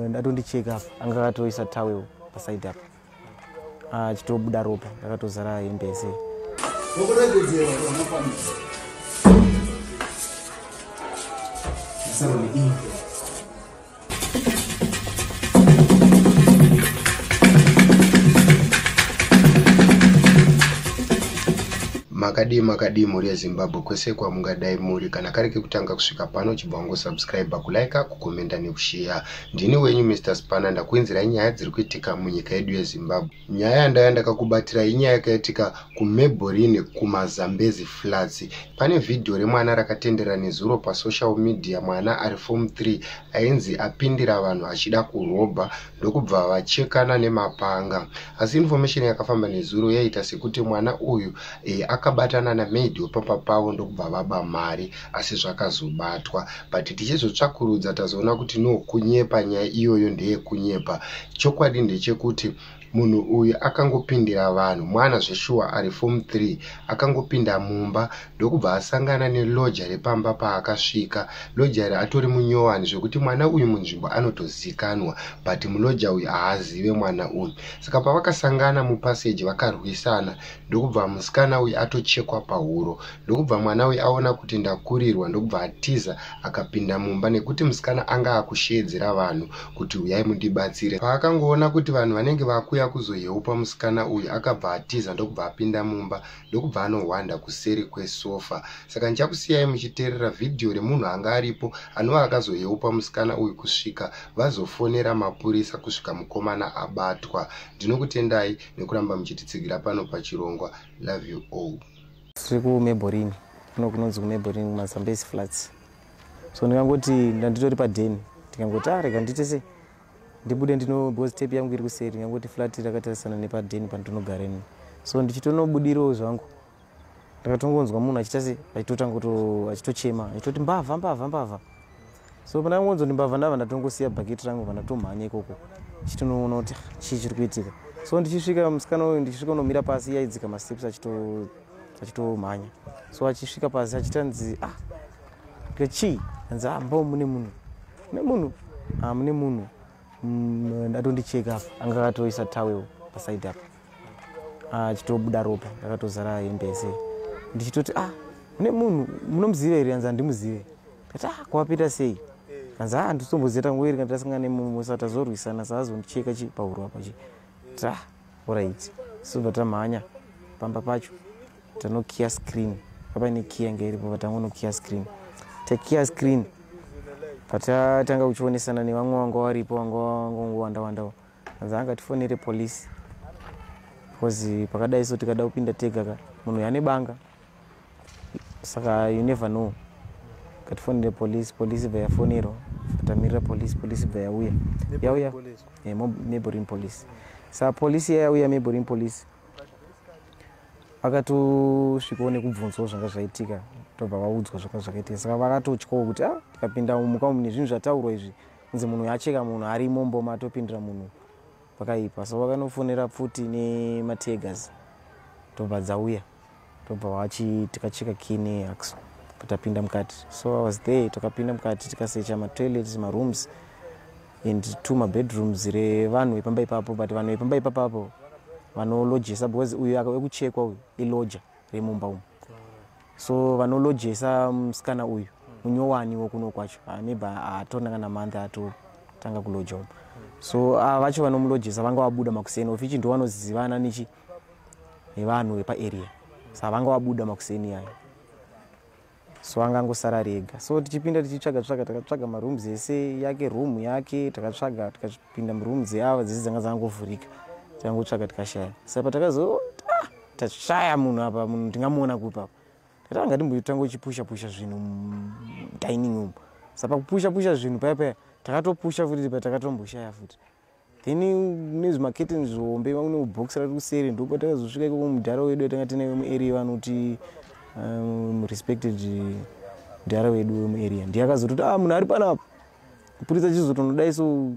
ndatondicheka apa anga akatoisa tawel pasaidi apa achitobuda ah, ropa ndakatozara hembe yese makadii makadii mhuri yezimbabwe kwese kwamungadai muri kana kari kekutanga kusvika pano chibva wangosubscribe kulike kukomenda nekusheya ndini wenyu mr spana ndakuinzirai nyaya dziri kuitika munyika yedu yezimbabwe nyaya yandaya ndakakubatirai inyaya yakaitika kumeborine kumazambezi flats pane vhidhiyo remwana rakatendera nezuro pasocial media mwana ari form 3 ainzi apindira vanhu achida kurobha ndokubva vachekana nemapanga asi information yakafamba nezuro yaiita sekuti mwana uyu e, akabatana namaid wepamba pavo ndokubva vaba mari asi zvakazobatwa but tichizotsvakurudza tazoona kuti no kunyepa nyaya iyoyo ndeyekunyepa chokwadi ndechekuti munhu uyu akangopindira vanhu mwana zveshuwa ari form 3 akangopinda mumba ndokubva asangana neloja repamba paakasvika loja iri atori munyowani zvekuti mwana uyu munzvimbo anotozikanwa but muloja uyu haazive mwana uyu saka pavakasangana mupaseji vakarwisana ndokubva musikana uyu atochekwa pahuro ndokubva mwana uyu aona kuti ndakurirwa ndokubva atiza akapinda mumba nekuti musikana anga akusheedzera vanhu kuti uyai mundibatsire paakangoona kuti vanhu vanenge vakuya kuzoyeupa musikana uyu akabva atiza ndokubva apinda mumba ndokubva anohwanda kuseri kwesofa saka ndichakusiyai muchiteerera vhidhiyo remunhu anga aripo anova akazoyeupa musikana uyu kusvika vazofonera mapurisa kusvika mukomana abatwa ndinokutendai nekuramba muchititsigira pano pachirongwa love you all tiri kumeborini kuno kunonzi kumeborini kumazambesi flats so ndikangoti ndanditori padeni ndikangoti arega ah, ndiite sei ndibude ndino because tape yangu iri kuseri ndikangoti flat rakatarisana nepadeni pandinogareni so ndichitonobudirawo zvangu ndakatongonzwa munhu achiita se achitotanga kuto achitochema achitoti mbavha mbavha mbavha so pandakangonzwa kuti mbavha ndava ndatongosiya bhaketi rangu pandatomhanya ikoko chitonoona kuti ah, chii chiri kuitika so ndichisvika musikana uyu ndichisvika unomira pasi yaidzika masteps achitomhanya so achisvika pasi achitanzi ah kechii anzi ah mbao mune munhu mune munhu ah mune munhu mm, ndatondicheka apa anga akatoisa tawel pasaidi apa achitobuda ah, ropa ndakatozara hembe yese ndichitoti ah une munhu munomuziva here kanzi handimuzive kati ah kwapita sei kanzi ah nditombozeta nguva iri kanditasangana nemunhu musa tazorwisana saazondicheka chi pahuro apa chi ta ah, orit sobva tamhanya pamba pacho tanokiya screen apaine kiya inge iripo vatangonokiya screen takiya screen patatanga kuchionesana nevamwe vanga varipo vanga vangongowanda wandawo anza angatifonere police because pakadai so tikada kupinda tega ka munhu yane banga saka you never know katifonere police police bva yafonerwa katamirira police police bva yauya yauya eh, neighboring police sa police iya yauya neighboring police vakatosvikawo nekubvunzawo zvanga zvaitika tobva vaudzwa zvanga zvakaitika saka vakatotyawo kuti a ah, tikapinda muka umu nezvinhu zvataurwa izvi nzi munhu yacheka munhu arimo mboma atopindira munhu pakaipa so vakanofonera pfuti nemategas tobva dzauya tobva wachi tikacheka kine ax kutapinda mukati so i was there takapinda mukati tikasecha matoilets marooms and two mabedrooms revanhu vepamba ipapo but vanhu vepamba ipapapo vanolodgesa because uyu ekuchekwa uyu iloja remumba umu so vanolodgesa musikana uyu munyowani wokuno kwacho ah, neba haatona kana month atotanga kulodja umu so ah, vacho vanomulodgesa vanga vabuda makuseni of ichi ndovanozivana nechi nevanhu vepaarea sa vanga vabuda makuseni yayo so angangosara rega so tichipinda tichitsvaga tsvaga takatsvaga maroom dzese yake room yake takatsvaga tikapinda muroom dzeava dzese dzanga dzangovhurika tikangotsvaga tikashaya sa patakazoona tashaya munhu apa munhu ndingamuona kupi apa tatanga timbotanga uchipusha pusha zvinhu mudining umu saka kupusha pusha zvinhu paya paya takatopusha futi tipa takatomboshaya futi then nezvimaketeni zvihombe vane ubox rati kuseri ndokuba takazosvika ikoko mudhara wedu atanga tine vemuarea vanoti um, respected mudhara wedu wemuarea ndiye akazototi a ah, munhu ari panapa kupurisa chizotonodai so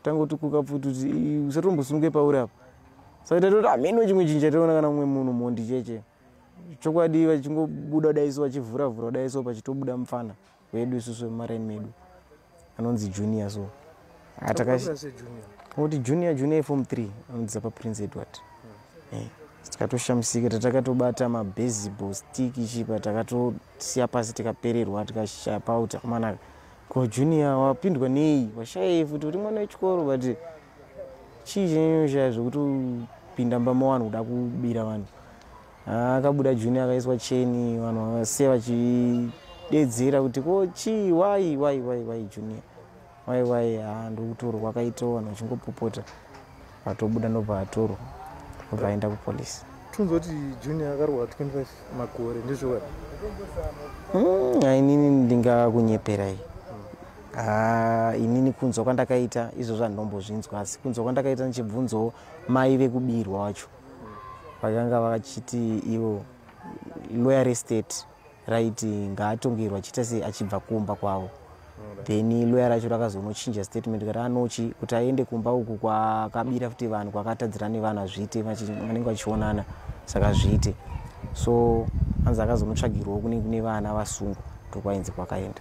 tanga utikuka futi kuti usatombosunge pauri apa saka tatoti hameno chimwe chinhu chataona kana mumwe munhu mhondi cheche chokwadi vachingobuda kudai so vachivhura vhura kudai so pachitobuda mupfana wedu isusu vemaraini medu anonzi junior so atakati junior junior form three anonziza paprince edward hmm. eh, tikatoshamisika tatakatobata mabaseball stick chipa takatosiya pasi tikapererwa tikashaya pauti amanaka ko junior wapindwa nei washayei futi uri mwana wechikoro but chii chinyoshaya zvekutopinda mbama vanhu kuda kubira vanhu ah, akabuda juni akaiswa cheni vanhu vavasiya vachidedzera kuti ko chii wai wai wai wai junior wai wai haa ah, ndokutorwa akaita vanhu vachingopopota vatobuda ndobva vatorwa ndobva aenda kupolice tunzi kuti junior akarohwa 25 makore ndizvoa hmm, ainini ndingakunyeperai Ah, inini kunzwa kwandakaita izvo zvandombozvinzwa asi kunzwa kwandakaita ndichibvunzawo mai vekubirwa wacho vakanga vachiti ivo loyer estate raiti ngaatongerwa achiita se achibva kumba kwavo then loyer racho rakazonochinja statement kati anochi kuti aende kumba uku kwakabira futi vanhu kwakatadzira nevanhu azviite vanenge vachionana saka zviite so anzi akazonotsvagirwawo kune kune vana vasungwa ndokwainzi kwakaenda